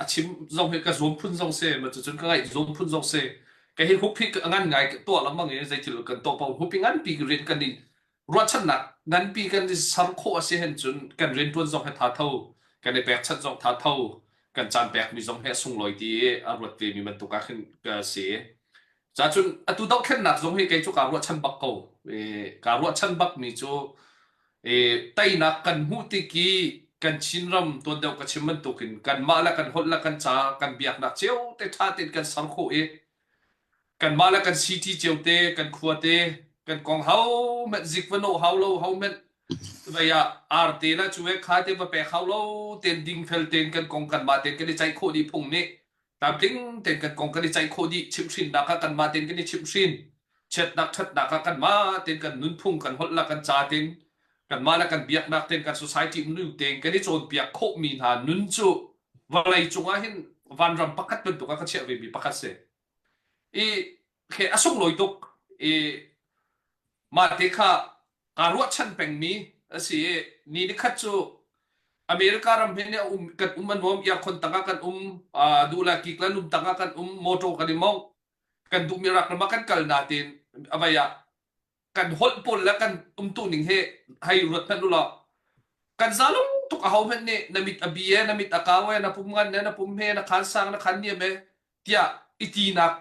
a chim zong hi ka zuam phun zong se ma cu cun ka ngaih zuam phun zong se ka hi hup hi ngan ngai tuah lengmang i zeithil kan to pa hup hi ngan pi rian kan i ruahchannak ngan pi kan i ser khawh a si hen cun kan rian tuan zong he tha tho kan i pek chan zong tha tho kan caan pek mi zong he sunglawi ti a ruat ve mi bantuk ah khin ka si Cacun atu dohthlennak zong hi kei cu kaa ruahchan bak ko. E, kaa ruahchan bakmi cu e, teinak kan hmuh tik i kan Chinram tuan deuh ka chim bantukin kanmah le kan holh le kan ca kan biaknak cio te ṭha tein kan ser khawh i kanmah le kan city cio te kan khua te kan kong hohmanh zik va no hau lo hohmanh vei ah arte le cuve kha te va pek hau lo tein dingfel tein kan kong kanmah tein kan i ceih khawh dih phung nih Tlamtling tein kan kong kan i ceih khawh dih chimhhrinnak ah kanmah tein kan i chimhhrin. Chiatnak ṭhatnak ah kanmah tein kan nunphung kan holh le kan ca tein kanmah le kan biaknak tein kan society nunning tein kan i cawnpiak khawhmi hna nun cu vawlei cungah hin vanram pakhat bantuk ah kan chiah vemi pakhat si. I Okay, a sunglawi tuk i mah te kha kaa ruahchan pengmi a si i ni nikhat cu America ram hin a um kan um an nuam earkhon tangah kan um uh, dula kiklan um tangah kan um motor kan i mong kan duhmi rak rama kan kal natin avaya kan holh pawl le kan umtu ning hi hei ruat hmanh ulaw kan zalung tuk a ho hmanh nih na mit a bi e na mit a kau e na pum ngan e na pum he na khan sang na khan niam e tiah i tinak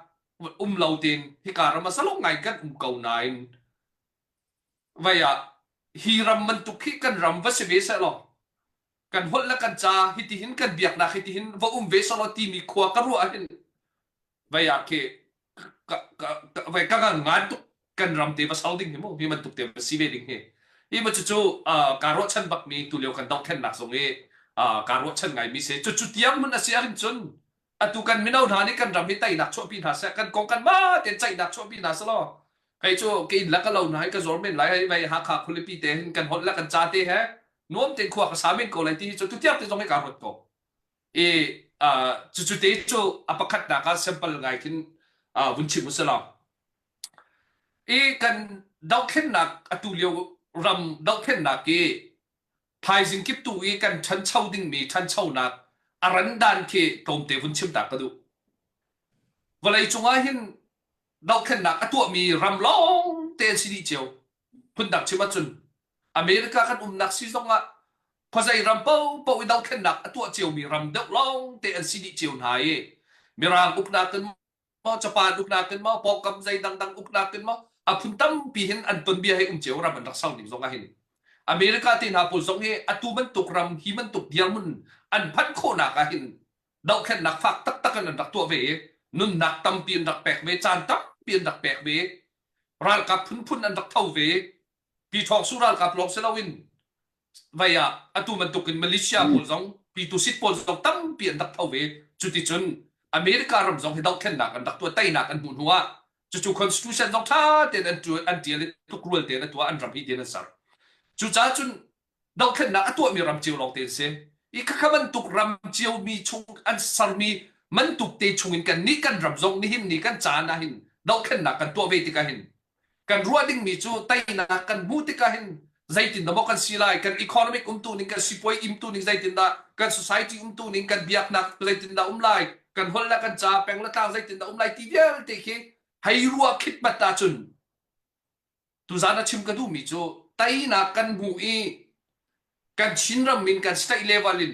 um lo tein hika ram salung ngai kan um ko nain vaya hi ram man tuk hi kan ram va si ve se law kan holh le kan ca hitihin kan biaknak hitihin va um ve sawlaw timi khua ka ruah ahhin vai ah khi ka ka ka vai ka kan ngan tuk kan ram te va sau ding hi mu hi man tuk te va si ve ding hi hi ma cu cu uh, ka ruahchan bak mi tu leo kan dongthennak zong i uh, ka ruahchan ngai mi se cu cu tiang mun a si ahhin cun atu kan mino hna nih kan ram hi teinak chuahpi hna seh kan kong kan ma tein ceihnak chuahpi hna seh law kei cu ke in lak ka lo hna hi ka zor men lai hei vei hakha khulipi te hin kan holh la kan ca te he nuam tein khua ka samin ko lai ti hi cu tutiak te zong hi ka ruat ko i cucu te cu a pakhat nak ah sample ngai khin vun chim usah law i kan dohthlennak atu lio ram dohthlennak i Thaizing kip tu i kan ṭhancho dingmi ṭhanchonak a randan khi tlawmte vun chimtak ka duh. Vawlei cungah hin dohthlennak a tuahmi ram lawngte an si dih cio. Phundang chim ahcun America kan umnak si zongah khuazei ram paohpaoh i dohthlennak a tuah ciomi ram deuh lawngte an si dih cio hna i Mirang uknak in maw capan uknak tin maw pawkam zei dangdang uknak tin maw a phun tampi hin an ton bia hei um ceu ram an rak sau ning zong ah hin America te hna pawl zong hi atu bantuk ram hi bantuk dirmun an phanh khawhnak ah hin dohthlennak fak taktak in an rak tuah ve i nunnak tampi an rak pek ve caan tampi an rak pek ve ralkap phunphun an rak tho ve pi thawk su ralkap lawng si loin vai ah atu bantukin Malaysia pawl zong pitu sit pawl zong tampi an rak tho ve cuticun America ram zong hi dohthlennak an rak tuah teinak an hmuh hnu ah cucu constitution zong ṭha tein an an ṭial i tukrual tein a tuah an ram hi din an ser cucaah cun dohthlennak a tuahmi ram cio lawng te an si i khakha bantuk ram cio mi chung an sermi man tuk te chungin kan nih kan ram zong nihin ni kan caan ah hin dohthlennak kan tuah ve tikah hin kan ruah dingmi cu teinak kan hmuh tikah hin zeitin dah maw kan si lai kan economic umtuning kan sipuai imtuning zeitindah kan society umtuning kan biaknak zeitindah um lai kan holh le kan ca peng le tlang zeitindah um lai ti vialte khi hei ruah khit mat ahcun tuzan a chim ka duhmi cu teinak kan hmuh i kan chinram min kan state level in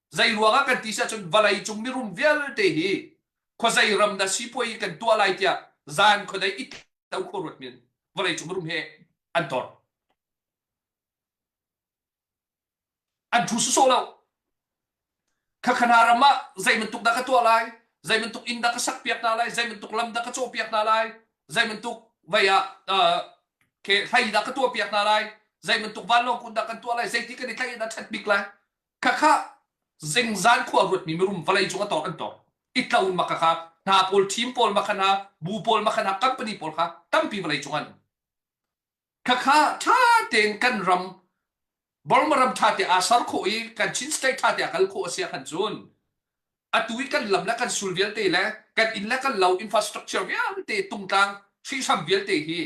Zeiruang ah kan ti ahcun vawlei cung mirum vialte hi khuazei ram dah sipuai kan tuah lai tiah zan khuadei it to khuaruat min vawlei cung mirum he an ton an thu sawsawh lo khakhana ram ah zeibantuk dah ka tuah lai zeibantuk inn dah ka sak piak hna lai zeibantuk lam dah ka caw piak hna lai zeibantuk vai ah ke hlei dah ka tuah piak hna lai zeibantuk vanlawng kun dah kan tuah lai zeiti kan i tlaih dah chat bik lai khakha zingzan khua ruatmi mirum vawlei cung a tor an tor i tlo ma khakha hna pawl thim pawl ma khana bu pawl ma khana company pawl kha tampi vawlei cung an khakha tha tein kan ram Burma ram tha te asar kho i kan Chin state tha te akal kho asia khan chun atu i kan lam le kan sul vialte le kan inn le kan lo infrastructure vialte tungtlang hri sam vialte hi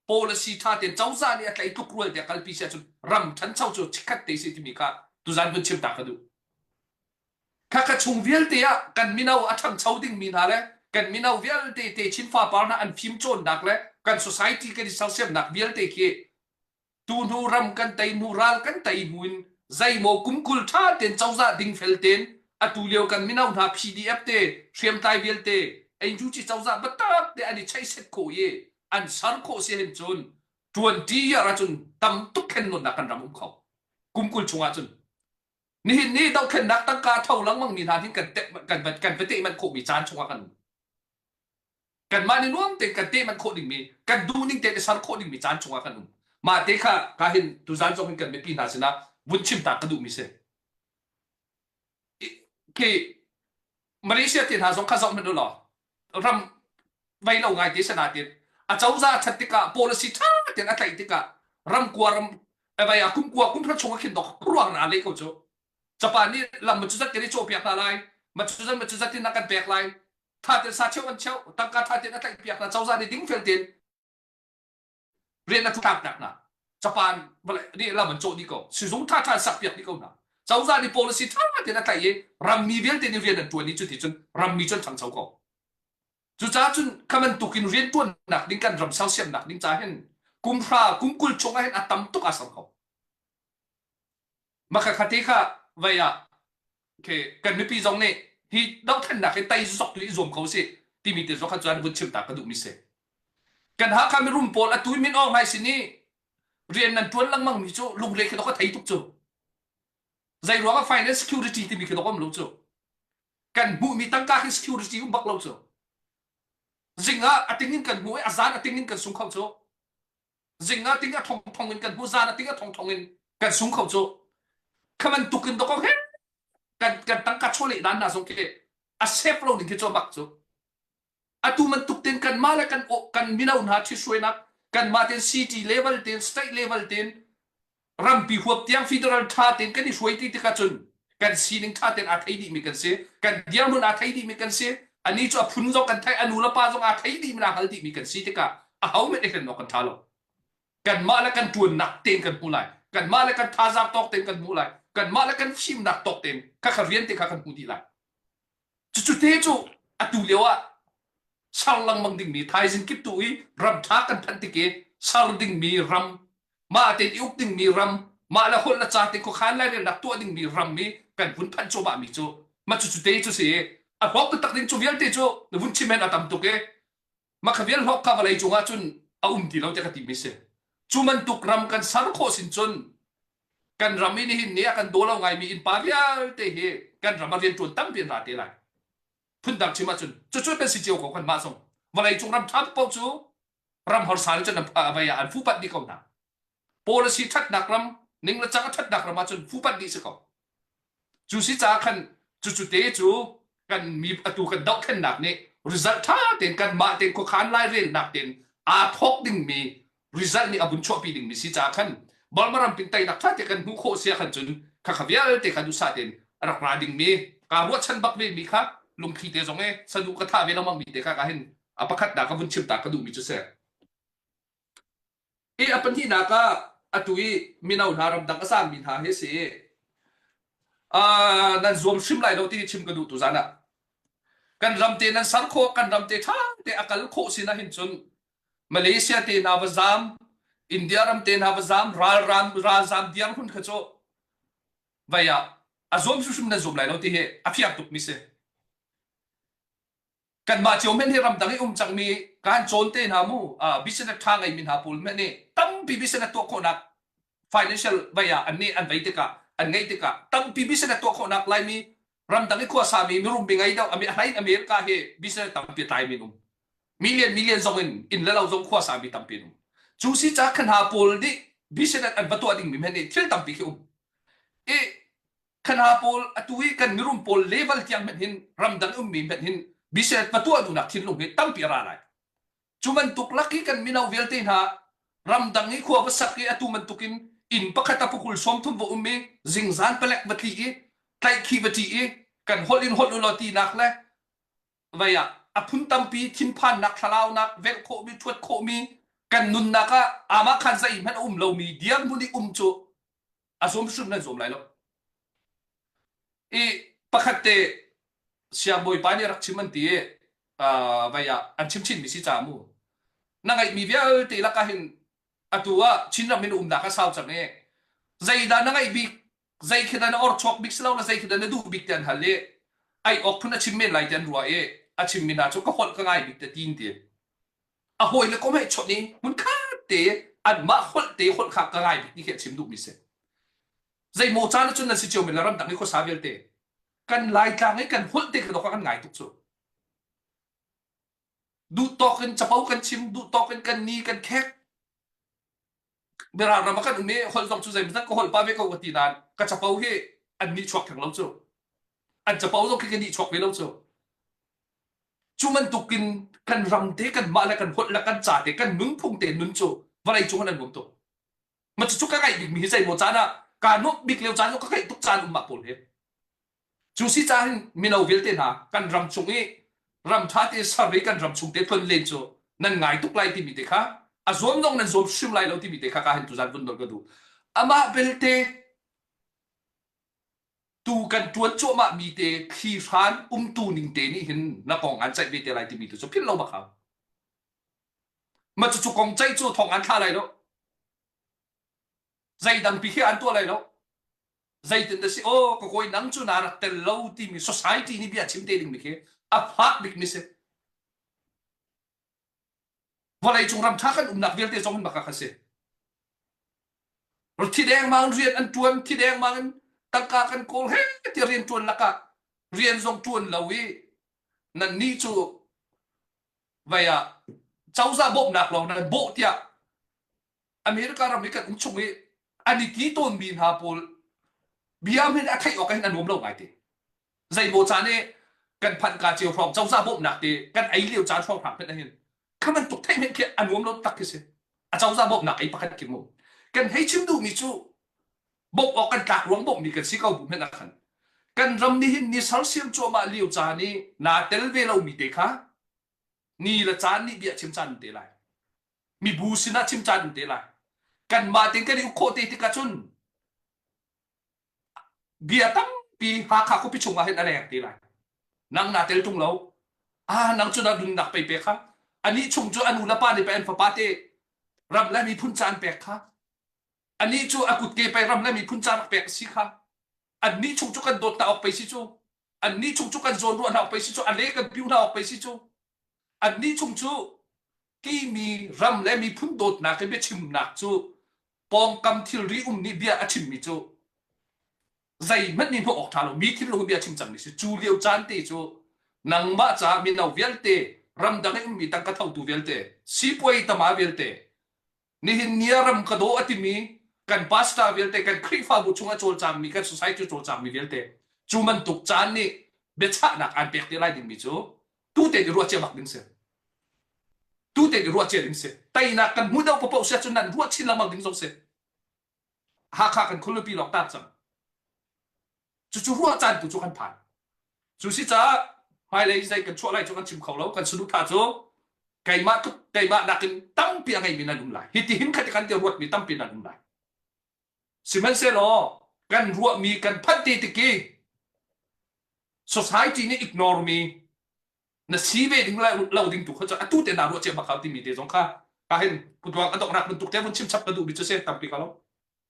policy tha tein cozah nih a tlaih tuk rual te kalpi si ahcun ram thancho cu chikkhat te si timi kha tuzan hun chim ta ka duh khakha chung vialte ah kan mino a thangcho ding mi hna le kan mino vialte te chin fa par hna an phim cawnnak le kan society kan i sersiamnak vialte khi tu hnu ram kan tei hnu ral kan tei hnu in zeimaw kumkul tha ten cozah ding fel ten atu lio kan mino hna PDF te hriamtlai vialte ein ju chi cozah batak te an i chai set ko ye an ser khawh si hrim cun 20 year ahcun tam tuk khennawnnak kan ram um kho kum kul chungah cun nihin ni dohthlennak tangka tho lengmang mi hna hin kan kan kan va manh khawh mi caan chungah kan um kan mah ni nuam te kan manh khawh ding mi kan duning te ser khawh ding mi caan chungah kan um ma te kha ka hin tuzan zong hin kan mipi hna sinah vun chim ta ka duh mi si Ki Malaysia te hna zong kha zoh hmanh u law ram vei lo ngai te sanatin acozah that tikah policy tha ten a tlaih tikah ramkua ram vai a kumkua kumthar chung a khin dok ruang na le ko cu japan nih lam ma cu zat i cawh piak hna lai ma cu zat ma cu zat in a kan pek lai tha ten sa cheu an cheu tangka tha ten a tlaih piak hna cozah nih ding fel ten rian a tlak piak hna japan vale ri lam an cawh dih ko sizung tha tha sak piak dih ko na cozah nih policy tha tein a tlaih i rammi vialte nih rian an tuan i cuti cun rammi cu an thangcho ko cucaah cun khaman tuk in rian tuan nak ding kan ram sersiam nak ding ca hin kum hra kum kul chung ah hin a tam tuk a sam ko Maka khate kha vai ah okay, kan mipi zong nih hi dohthannak hi tai zok le i zuam ko si timi te zong kha cuan vun chim ta ka duh mi si kan Hakha mirum pawl a tui min awng hai sin i rian nan tuan lengmang mi cu lungre khi dok a thei tuk cu zei ruang ah finance security timi khi dok am lo cu kan hmuh mi tangka khi security um bak lo cu zing ah ating in kan hmuh i a zan ating in kan sung kho cu Zing ah ting a thong thong in kan hnu zan a ting a thong thong in kan sung kho cu kha man tuk in dokok he kan kan tangka chole dan na zong ke a sep lo ding khi cho bak cu atu man tuk tin kan ma le kan kan mino hna thi suainak kan ma ten city level ten state level ten rampi huap tiang federal tha tein kan i hruai ti tik ahcun kan sining tha tein aa thei dihmi kan si kan dirhmun aa thei dihmi kan si ani cu a phun zong kan theih a nu le pa zong aa thei dihmi aa hal dihmi kan si tikah a ho met hen kan tha lo kanmah le kan tuannak tein kan hmu lai kanmah le kan thazaang tawk tein kan hmu lai kanmah le kan fimnak tawk tein kha kha rian te kha kan hmu dih lai Cucu te cu atu lio ah ser lengmang dingmi thaizing kip tu i ram ṭha kan phanh tik i ser dingmi ram, mah tein i uk dingmi ram, mah le holh le ca te khuakhan lai rak tuah dingmi ram i kan vun phanh cuahmah mi cu ma cucu te cu si i a huap taktak ding cu vialte cu vun chim hen a tam tuk i mah kha vial hlawk kha vawlei cungah cun a um ti lo tiah ka ti mi si cu bantuk ram kan ser khawh sin cun kan ram in hin ni a kan daw lo ngai mi innpa vialte hi kan ram a rian tuan tampi ra te lai phun dang chim ahcun cucu kan si cio ko kan mah zong vawlei cung ram ṭha paoh cu ram horsa in cun a vei an fupat ni ko hna policy thatnak ram ning le cang thatnak ram ahcun phu panh dih si ko cu si caah khan cu cute cu kan mi atu kan dohthlennak nih result tha tein kan mah tein khuakhan lai relnak tein aa thawk dingmi result nih a bun chuahpi dingmi si caah khan Burma ram pin tainak tha te kan hmuh khawh sia khan cun kha kha vialte kha dusa tein rak ra dingmi ka ruahchan bak ve mi kha lungthli te zong e sanu ka tha ve lama mi te kha ka hin a pakhat da ka vun chim ta ka duh mi cu se i a pahnihnak ah a tu i mino hna ramdang a sami hna hi si uh, nan zuam hrim lai lo ti chim ka duh tu zan ah kan ram te nan ser khawh kan ram te tha te a kal khawh sina hin cun malaysia te na va zam india ram te na va zam ral ram ral zam diam hun kha cho vaya a zuam hrim nan zuam lai lo ti hi a fiak tuk mi si kanmah cio men hi ramdang i um cangmi kan cawn te hna mu business tha ngeimi hna pawl men nih tampi business tuah khawhnak financial vai ah an nih an vai tikah an ngeih tikah tampi business tuah khawhnak laimi ramdang i khuasami mirum bingei do ami ahlain america hi business tampi tlai min um million million zong in in le lo zong khuasami tampi um cu si ca khan ha pawl nih business an va tuah ding mi men nih thil tampi khi um i Khana pawl atu i kan mirum pawl level tiang hmanh hin ramdang ummi hmanh hin biset pa tuah duhnak thinlung hi tampi a ra lai. Cu bantuk lak i kan mino vialte hna ramdang i khua va sak i atu bantuk in inn pakhat a pukul sawm thum va um i zingzan palek va tli i tlaihkhi va ṭi i kan holh in holh ulaw tinak le vei ah a phun tampi thinphannak thlalaunak velh khawhmi ṭhuat khawhmi kan nunnak ah amah khan zei hmanh a um lomi dirhmun i um cu a zum hrim nan zum lai lo i pakhat te siangbawipa nih rak chim an ti vai ah an chim chinmi si ca mu na ngaihmi vialte lakah hin atu ah Chinram in umnak a sau cang i zeidah na ngaih bik zei khi na or chuak bik si lo la zei khi na duh bik te an hal i ai ok phun a chim men lai te an rua i a chim mi hna cu ka holh ka ngai bik te tin ti a hawile komeh chawnh i hmunkhat te anmah holh te holh kha ka ngai bik ti khi a chim duhmi si zeimaw caan cun nan si cio men la ramdang i khuasa vialte kan laitlang i kan holh te kha kan ngai tuk cu duh tawk in capo kan chim duh tawk in kan ni kan khek Mirang ram a kan um i holh zong cu zeimawzat ka holh pa ve ko ka ti nain ka capo hi an nih chuak theng lo cu an capo zong khi ka nih chuak ve lo cu cu bantuk in kan ram te kan mah le kan holh le kan ca te kan nunphung te nun cu vawlei cung an an um tuk ma cucu ka ngaih bikmi hi zei maw caan ah kaa nuamh bik lio caan zong ka ngaih tuk caan um mah pawl hi Cu si caan mino vialte hna kan ram chung i ram ṭha tein survey kan ram chung te tlon len cu nan ngai tuk lai timi te kha a zuam zong nan zuam hrim lai lo timi te kha ka hen tu zan vun dol ka duh. Amah belte tu kan ṭuan cuahmah mi te thli hran umtu ning te nih hin na kong an ceih ve te lai timi tu cu philh lo bak hau. Ma cucu kong ceih cu thong an thla lai lo. zeidangpi khi an tuah lai lo zeitin dah si aw ka kawi nang cu na rak tel lo timi society nih bia chim te ding mi khi a fak bik mi si vawlei cung ram tha kan umnak vialte zong in baka kha si thi deng mang rian an tuan thi deng mang in tangka kan kawl he ti rian tuan lakah rian zong tuan lo i nan ni cu vaya cauza bawmnak lawng nan bawh tiah America ram i kan um chung i an i ti tawnmi hna pawl bia min a theih awk hin a nuam lo ngaite zeimaw caan i kan phanh ka cio hrawng cozah bawmhnak te kan ei lio caan hrawng hram phen ahhin kha bantuk theih men khi a nuam lo tak khi si a cozah bawmhnak ei pakhat kim um kan hei chim duhmi cu bawmh awk kan tlak ruang bawmhmi kan si ko bu men akhan kan ram ni hin ni sersiam cuahmah lio caan i naa tel ve lomi te kha ni le caan nih bia chim caan te lai mibu sinah chim caan in te lai kanmah tin kan i uk khawh te tikah cun bia tampi Hakha khuapi chungah hin a leng te lai nang na tel tung lo ah nang cu na nunnak pei pek kha ani chung cu anu le pa nih pe an fapa te ram le miphun caan pek kha ani cu a kut ke pe ram le miphun caan pek si kha anni chung cu kan dawt na ok pei si cu anni chung cu kan zawn ruah na ok pei si cu a le kan piu na ok pei si cu anni chung cu timi ram le miphun dawtnak i biachimnak cu pawngkam thilri um nih bia a chimmi cu zeihmanh nih hnawh awk ṭha lo mi thilru hi bia chim cangmi si cu lio caan te cu nangmah caah mino vialte ramdang i ummi tang ka thotu vialte sipuai tama vialte Nihin ni ah ram ka daw a timi kan pastor vialte kan Khrihfabu chungah cawlcangmi kan society cawlcangmi vialte cu bantuk caan nih biachahnak aan pek te lai dingmi cu tute nih ruah cia bak ding si tute nih ruah cia ding si teinak kan hmuh deuh paoh si ahcun nan ruah chin lengmang ding zong si Hakha kan khualipi lawng tar cang. Cucu ruahcaan tu cu kan phan. Cu si caah hmailei zei kan chuah lai cu kan chim kho lo. Kan saduhthah cu keimah tluk keimah nakin tampi a ngeimi nan um lai. Hitihin khat kan ti ruatmi tampi nan um lai. Sihmanhsehlaw kan ruahmi kan phanh ti tik i society nih ignore mi na si ve ding lo ding tu kha cu atu te na ruah cia bak hau timi te zong kha ka hin putuang a donghnak bantuk te vun chim chap ka duh mi cu se tampi ka lo